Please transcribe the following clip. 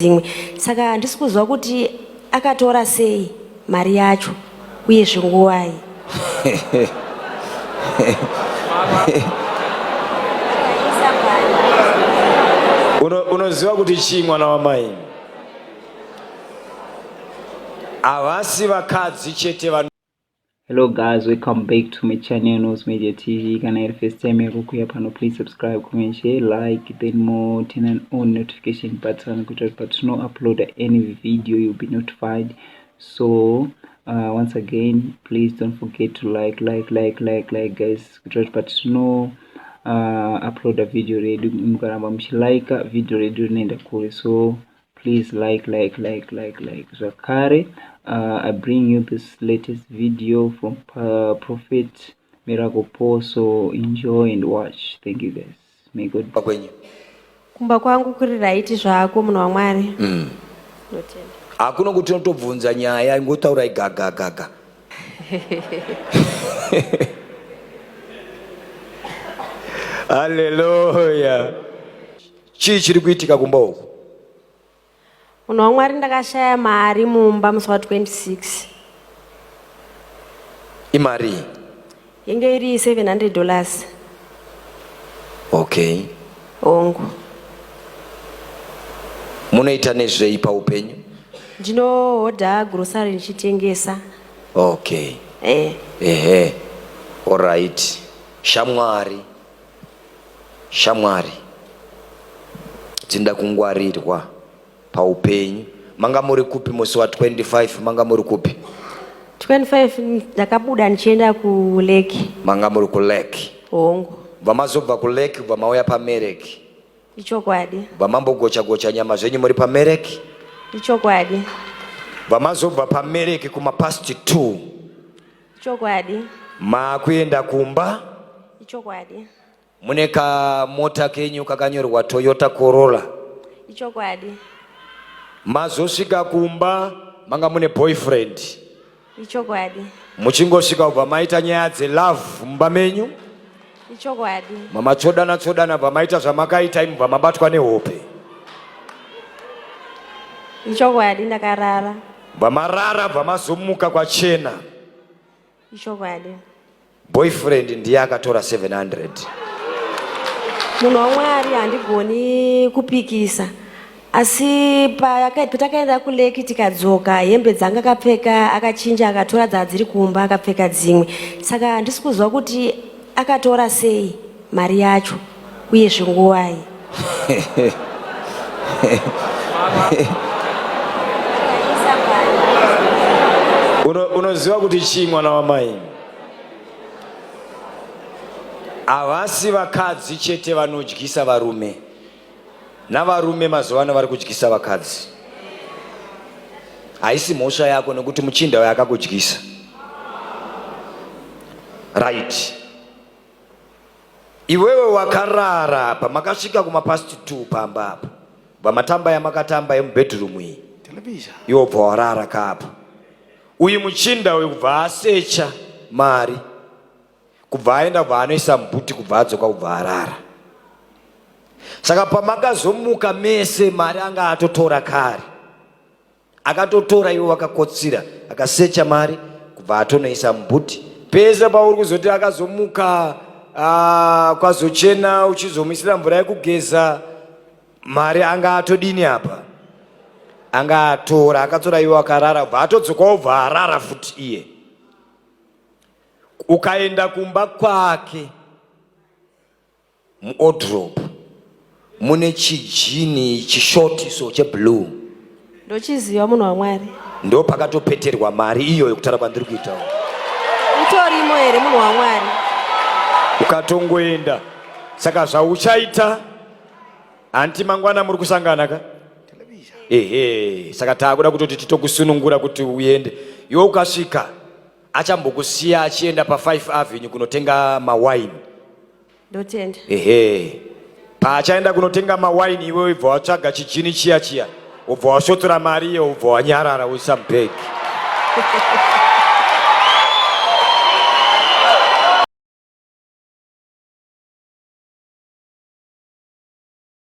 dzimwe saka handisi kuziva kuti akatora sei mari yacho uye zvinguvai unoziva kuti chii mwana wamai havasi vakadzi chete hello guys welcome back to my channel nose media tv kana iri first time yako kuya pano please subscribe comment share like then more turn on all notification button kuitira kuti patino uploada any video you'll be notified so uh, once again please don't forget to like like like like like guys kuitira kuti patino uh, uploada video redu mukaramba muchilika video redu rinoenda kure so please like like like like like zvakare uh, i bring you this latest video from uh, prophet miracle paul so enjoy and watch thank you guys may god kwenyu kumba kwangu kuri raiti zvako munhu wamwari mm. hakuno kuti unotobvunza nyaya ingotaurai gagagaga haleluya chii chiri kuitika kumba uku munhu wamwari ndakashaya mari mumba musi wa 26 imari yenge iri 700 dollars okay hongu munoita nezvei paupenyu ndinohodha grocery ndichitengesa okay eh. ehe oright shamwari Shamwari dzinoda kungwarirwa paupenyu. Manga muri kupi musi wa 25? Manga muri kupi? 25 ndakabuda ndichienda kuleki. Manga muri kuleki? Hongu. Bva mazobva kuleki bva mauya pamereki. Ichokwadi. Bva mambogocha gocha nyama zvenyu muri pamereki? Ichokwadi. Bva mazobva pamereki kuma past 2. Ichokwadi. Makuenda kumba? Ichokwadi. Mune kamota kenyu kakanyorwa Toyota Corolla? Ichokwadi. Mazosvika kumba manga mune boyfriend? Ichokwadi. Muchingosvika kubva maita nyaya dzelove mumba menyu? ichokwadi mama tsvodana tsvodana bva maita zvamakaita imi bva mabatwa nehope ichokwadi ndakarara bva marara bva mazomuka kwachena ichokwadi boyfriend ndiye akatora 700 munhu wamwari handigoni kupikisa asi patakaenda kuleki tikadzoka hembe dzanga akapfeka akachinja akatora dzaa dziri kumba akapfeka dzimwe saka handisi kuziva kuti akatora sei mari yacho uye zvinguvai unoziva kuti chii mwana wamai havasi vakadzi chete vanodyisa varume navarume mazuva ano vari kudyisa vakadzi haisi mhosva yako nekuti muchinda uyo akakudyisa right iwewe wakarara pamakasvika kumapasti t pamba apa vamatamba yamakatamba yemubedroom iyi iwo bva warara kaapa uyu muchinda uyu kubva asecha mari kubva aenda kubva anoisa mbuti kubva adzoka kubva arara saka pamakazomuka mese mari anga atotora kare akatotora iwe wakakotsira akasecha mari kubva atonoisa mbuti pese pauri kuzoti akazomuka ah, kwazochena uchizomuisira mvura yekugeza mari anga atodini apa anga atora akatora iwe akarara bva atodzokawo bva arara futi iye Ukaenda kumba kwake muodrop mune chijini chishoti so cheblue ndochiziva munhu wamwari ndo pakatopeterwa mari iyo yekutara kwandiri kuitawo itorimo here munhu wamwari ukatongoenda saka zvauchaita hanti mangwana muri kusangana ka ehe saka taakuda kutoti titokusunungura kuti uende iwe ukasvika achambokusiya achienda pa5 avenue kunotenga mawine ndotenda ehe paachaenda kunotenga mawine iwe ibva watsvaga chijini chiya chiya ubva wasvotora mari iyo ubva wanyarara uisa mubhegi